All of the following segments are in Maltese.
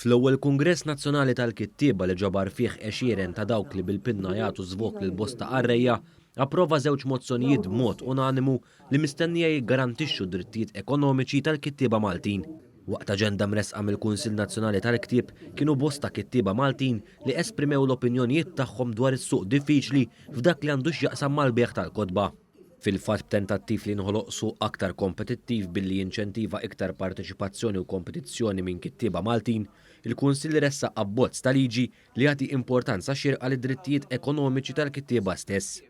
Fl-ewwel Kungress Nazzjonali tal-Kittieba li ġabar fih għexieren ta' dawk li bil-pinna jagħtu żvok lil bosta qarrejja, approva żewġ mozzjonijiet b'mod unanimu li mistennija jiggarantixxu d-drittijiet ekonomiċi tal-kittieba Maltin. Waqt aġenda mressqa mill-Kunsill Nazzjonali tal-Ktieb kienu bosta kittieba Maltin li esprimew l-opinjonijiet tagħhom dwar is-suq diffiċli f'dak li għandu x'jaqsam mal-bejgħ tal-kotba. fil-fatt b'tentattiv li jinħoloq suq aktar kompetittiv billi jinċentiva iktar parteċipazzjoni u kompetizzjoni minn kittieba Maltin, il-Kunsill ressaq abbozz ta' liġi li jagħti importanza xierqa lid-drittijiet ekonomiċi tal-kittieba stess.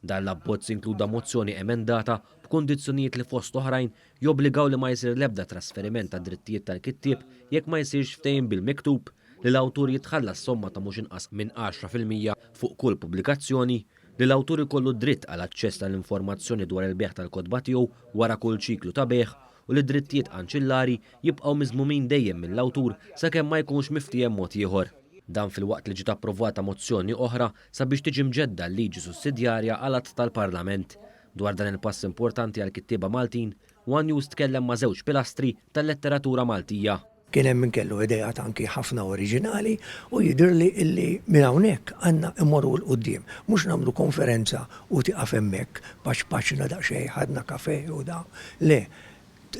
Dan l-abbozz inkluda mozzjoni emendata b'kundizzjonijiet li fost oħrajn jobbligaw li ma jsir l-ebda trasferiment tad-drittijiet tal-kittieb jekk ma jsirx ftehim bil-miktub, li l-awtur jitħallas somma ta' mhux inqas minn għaxra fil-mija fuq kull pubblikazzjoni, li l-awtur ikollu dritt għal aċċess għall-informazzjoni dwar il-bejgħ tal-kotba tiegħu wara kull ċiklu ta' bejgħ u li d-drittijiet anċillari jibqgħu miżmumin dejjem mill-awtur sakemm ma jkunx miftiehem mod ieħor. Dan filwaqt li ġiet approvata mozzjoni oħra sabiex tiġi mġedda l-liġi sussidjarja għal att tal-Parlament. Dwar dan il-pass importanti għall-kittieba Maltin, one News tkellem ma' żewġ pilastri tal-letteratura Maltija. Kien hemm min kellu ideat anki ħafna oriġinali u jidhirli illi minn hawnhekk għandna mmorru 'l quddiem. Mhux nagħmlu konferenza u tieqaf hemmhekk, paċpaċna daqsxejn, ħadna kafè u da. Le,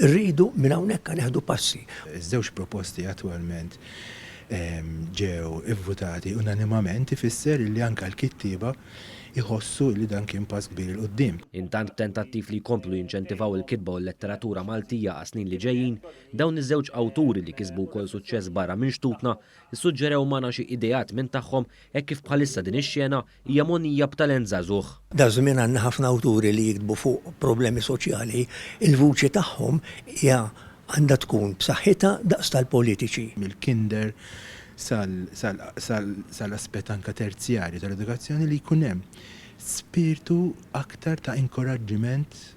rridu minn hawnhekk neħdu passi. Iż-żewġ proposti attwalment ġew ivvutati unanimament ifisser illi anke l-kittieba jħossu illi dan kien pass kbir 'il quddiem. Intant b'tentattiv li jkomplu jinċentivaw il-kitba u l-letteratura Maltija għas-snin li ġejjin, Dawn iż-żewġ awturi li kisbu wkoll suċċess barra minn xtutna, issuġġerew magħna xi ideat minn tagħhom hekk kif bħalissa din ix-xena hija mogħnija b'talent żagħżugħ. Daż-żmien għandna ħafna awturi li jiktbu fuq problemi soċjali, il-vuċi tagħhom hija għandha tkun b'saħħitha daqs tal-politiċi. mill-kinder sal-aspett anke terzjarju tal-edukazzjoni li jkun hemm spirtu aktar ta' inkoraġġiment